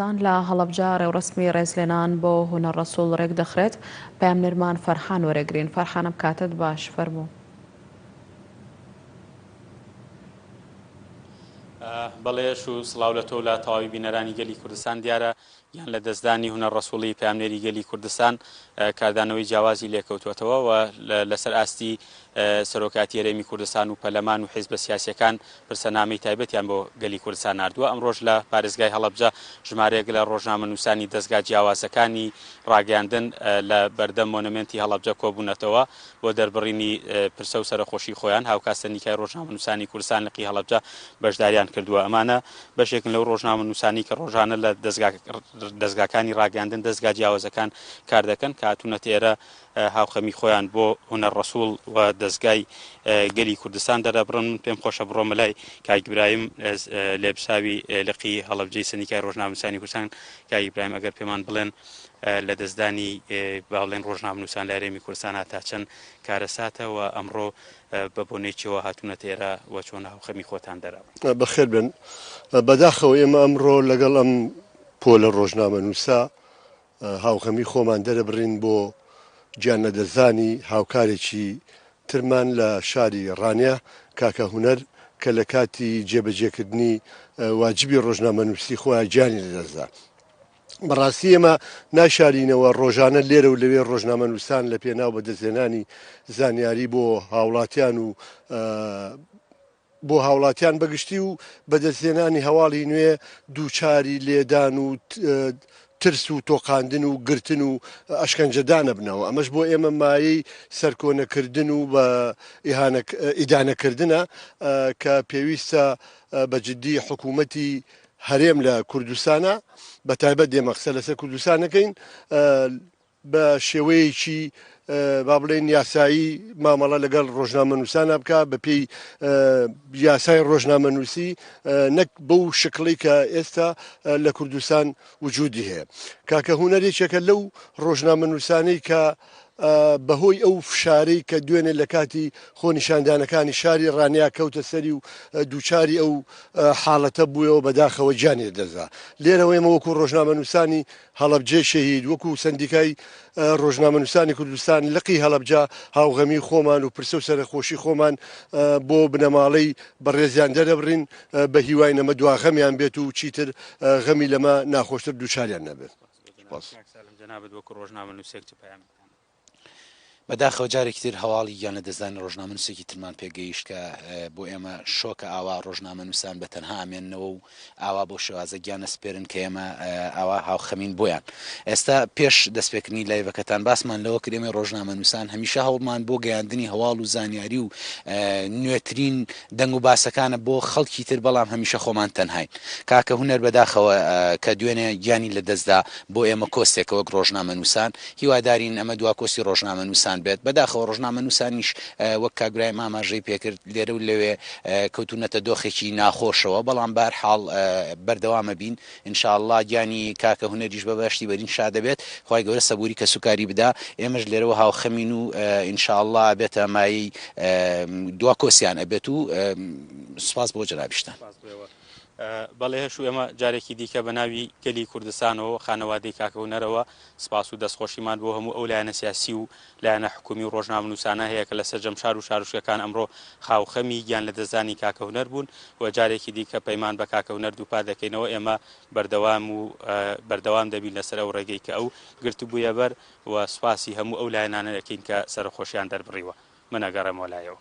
دان لە هەڵەبجە ڕێوڕەسمی ڕێزلێنان بۆ هونەر ڕەسوڵ ڕێکدەخرێت، پەیامنێرمان فەرحان وەرئەگرین. فەرحانم کاتت باش، فەرموو. بەڵێ ئەش و سڵاو لە تۆ و لە تەواوی بینەرانی گەلی کوردستان، دیارە گیان لە دەستدانی هونەر ڕەسوڵی پەیامنێری گەلی کوردستان کاردانەوەی جیاوازی لێکەوتووەتەوە و لەسەر ئاستی سەرۆکایەتی هەرێمی کوردستان و پەرلەمان و حیزبە سیاسیەکان پرسە نامەی تایبەتیان بۆ گەلی کوردستان ناردووە. ئەمڕۆش لە پارێزگای هەڵەبجە ژمارەیەک لە ڕۆژنامەنووسانی دەزگا جیاوازەکانی ڕاگەیاندن لە بەردەم مۆنۆمێنتی هەڵەبجە کۆبوونەتەوە بۆ دەربڕینی پرسە و سەرەخۆشی خۆیان. هاوکات سەندیکای ڕۆژنامەنووسانی کوردستان لقی هەڵەبجە بەشداریان کردووە. ئەمانە بەشێکن لەو ڕۆژنامەنووسانەی کە ڕۆژانە لە دەزگاکانی ڕاگەیاندن دەزگا جیاوازەکان کار دەکەن کە هاتوونەتە ئێرە هاوخەمی خۆیان بۆ هونەر ڕەسوڵ و دەزگای گەلی کوردستان دەردەبڕن من پێم خۆشە بڕۆمە لای کاک برایم لێبساوی لقی هەڵەبجەی سەنیکای ڕۆژنامەنووسانی کوردستان کاک ئیبراهیم ئەگەر پێمان بڵێن لە دەستدانی باڵێن ڕۆژنامەنووسان لە هەرێمی کوردستان تا چەند کارەساتە و ئەمڕۆ بە بۆنەی چێوە هاتوونەتە ئێرە و چۆن هاوخەمی خۆتان دەرەبڕن بەخێر بن بەداخەوە ئێمە ئەمڕۆ لەگەڵ ئەم پۆلە ڕۆژنامەنووسە هاوخەمی خۆمان دەربڕین بۆ گیان لەدەستدانی هاوکارێکی ترمان لە شاری ڕانیە، کاکە هونەر، کە لە کاتی جێبەجێکردنی واجبی ڕۆژنامەنووسی خۆیان گیانی لەدەستدا. بەڕاستی ئێمە ناشارینەوە ڕۆژانە لێرە و لەوێ ڕۆژنامەنووسان لە پێناو بەدەستهێنانی زانیاری بۆ هاوڵاتیان و بۆ هاوڵاتیان بەگشتی و بەدەستهێنانی هەواڵی نوێ دووچاری لێدان و ترس و تۆقاندن و گرتن و ئەشکەنجەدانەبنەوە ئەمەش بۆ ئێمە مایەی سەرکۆنەکردن و بە ئیدانەکردنە کە پێویستە بە جددی حکوومەتی هەرێم لە کوردستانە بە تایبەت دێمە قسە لەسەر کوردستانەکەین بە شێوەیەکی با بڵێین یاسایی مامەڵە لەگەڵ ڕۆژنامەنووسانا بکا بە پێی یاسای ڕۆژنامەنووسی نەک بەو شکڵی کە ئێستا لە کوردستان وجودی هەیە کاکە هوەر یەکێکە لەو ڕۆژنامەنووسانەی کە بەهۆی ئەو فشارەی کە دوێنێ لە کاتی خۆنیشاندانەکانی شاری ڕانیا کەوتە سەری و دووچاری ئەو حاڵەتە بووەوە بەداخەوە گیانێ دەزا لێرەوەی مەوەکو ڕۆژنامەنووسانی هەڵەبجەی شەهید، وەکو سەندیکای ڕۆژنامەنووسانی کوردستان لقی هەڵەبجە هاوغەمی خۆمان و پرسە و سەرەخۆشی خۆمان بۆ بنەماڵەی بەڕێزیان دەرەبڕین، بە هیواین ئەمە دوا غەمیان بێت و چیتر غەمی لەمە ناخۆشتر دووچاریان نەبێت. سپاس. کاک سالم جەنابت وەکو ڕۆژنامەنووسێک چ پەیامێکتان هەیە؟ بەداخەوە جارێکی تر هەواڵی گیان لەدەستدانی ڕۆژنامەنووسێکی ترمان پێگەیشت کە بۆ ئێمە شۆکە ئاوا ڕۆژنامەنووسان بە تەنها ئامێننەوە و ئاوا بەو شێوازە گیان ئەسپێرن کە ئێمە ئاوا هاوخەمین بۆیان ئێستا پێش دەستپێکردنی لایڤەکەتان باسمان لەوە کرد ئێمە ڕۆژنامەنووسان هەمیشە هەوڵمان بۆ گەیاندنی هەواڵ و زانیاری و نوێترین دەنگ و باسەکانە بۆ خەڵکی تر بەڵام هەمیشە خۆمان تەنهاین کاکە هوەر بەداخەوە کە دوێنێ گیانی لەدەستدا بۆ ئێمە کۆستێکە وەک ڕۆژنامەنووسان هیوادارین ئەمە دواکۆسی ڕۆژنامەنووسان بێت، بەداخەوە ڕۆژنامەنووسانیش وەک کاک برایم ئاماژەی پێکرد لێرە و لەوێ کەوتوونەتە دۆخێکی ناخۆشەوە، بەڵام بەهەرحاڵ بەردەوامە بین ان شاء اللە گیانی کاکە هونەریش بە بەهەشتی بەرین شادەبێت، خوای گەورە سەبووری کەسوکاری بدا، ئێمەش لێرەوە هاوخەمین و ان شاء اللە ئەبێتە مایەی دواکۆسیان ئەبێت و سوپاس بۆ جەنابیشتان. بەڵێ هەشوو ئێمە جارێکی دیکە بەناوی گەلی کوردستانەوە و خانەوادەی کاکە هونەرەوە سپاس و دەستخۆشیمان بۆ هەموو ئەو لایەنە سیاسی و لایەنە حکوومی و ڕۆژنامەنووسانە هەیە کە لە سەرجەم شار و شارۆچکەکان ئەمڕۆ خاوخەمی گیان لەدەستدانی کاکە هونەر بوون و جارێکی دیکە پەیمان بە کاکە هونەر دووپات دەکەینەوە ئێمە بەردەوام و بەردەوام دەبین لەسەر ئەو ڕێگەی کە ئەو گرتبوویە بەر و سپاسی هەموو ئەو لایەنانە دەکەین کە سەرەخۆشیان دەربڕیوە. من ئەگەڕێمەوە لایەوە.